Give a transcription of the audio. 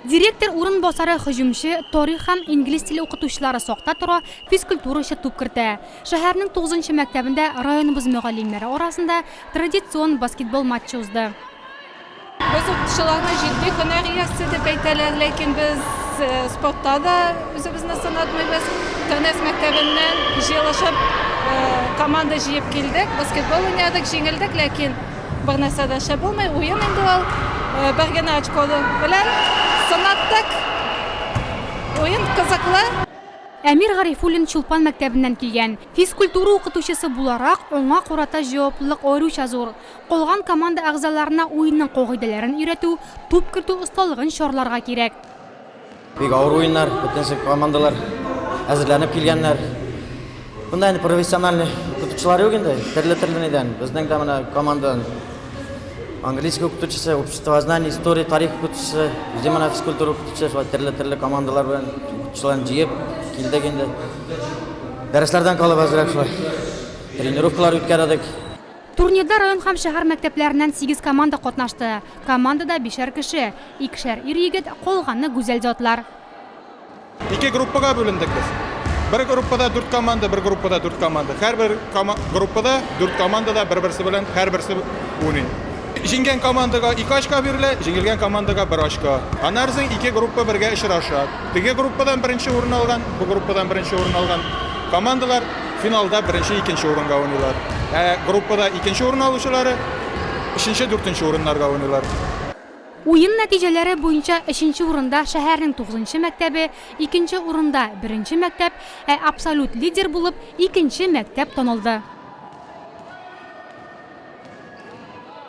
Директор урынбасары һөҗүмче, тарих һәм инглиз теле укытучылары сакта тора, физкультурачы туп кертә. Шәһәрнең тугызынчы мәктәбендә районыбыз мөгаллимнәре арасында традицион баскетбол матчы узды. Без укытучыларны җитди һөнәр иясе дип әйтәләр, ләкин без спортта да үзебезне сынатмыйбыз. Тәнәф мәктәбеннән җыелышып, команда җыеп килдек, баскетбол уйнадык, җиңелдек, ләкин Бер нәрсә дә шәп булмый, уен инде ул. Э, бер генә очко белән сынаттык. Уен кызыклы. Әмир Гарифуллин Чулпан мәктәбеннән килгән. Физкультура укытучысы буларак, аңа карата җаваплылык аеруча зур. Калган команда әгъзаларына уенның кагыйдәләрен өйрәтү, туп кертү осталыгын чарларга кирәк. Бик авыр уеннар, бөтенесе командалар әзерләнеп килгәннәр. Монда инде профессиональный укытучылар юк инде, төрле-төрле нидән. Безнең дә менә команда английский укытучысы, обществознание, история, тарих укытучысы, үзе менә физкультура укытучысы, шулай төрле-төрле командалар белән укытучыларын җыеп килдек инде. Дәресләрдән калып әзрәк шулай тренировкалар үткәрдек. Турнирда район һәм шәһәр мәктәпләреннән сигез команда катнашты. Командада бишәр кеше, икешәр ир-егет, калганы гүзәл затлар. Ике группага бүлендек без. Бер группада дүрт команда, бер группада дүрт команда. Һәрбер группада дүрт команда да бер-берсе белән һәрберсе уйный. Җиңгән командага ике очко бирелә, җиңелгән командага бер очко. Аннары соң ике группа бергә очраша. Теге группадан беренче урын алган, бу группадан беренче урын алган командалар Финалда беренче, икенче урынга уйныйлар. Ә группада икенче урын алучылары өченче, дүртенче урыннарга уйныйлар. Уен нәтиҗәләре буенча өченче урында шәһәрнең тугызынчы мәктәбе, икенче урында, беренче мәктәп, ә абсолют лидер булып икенче мәктәп танылды.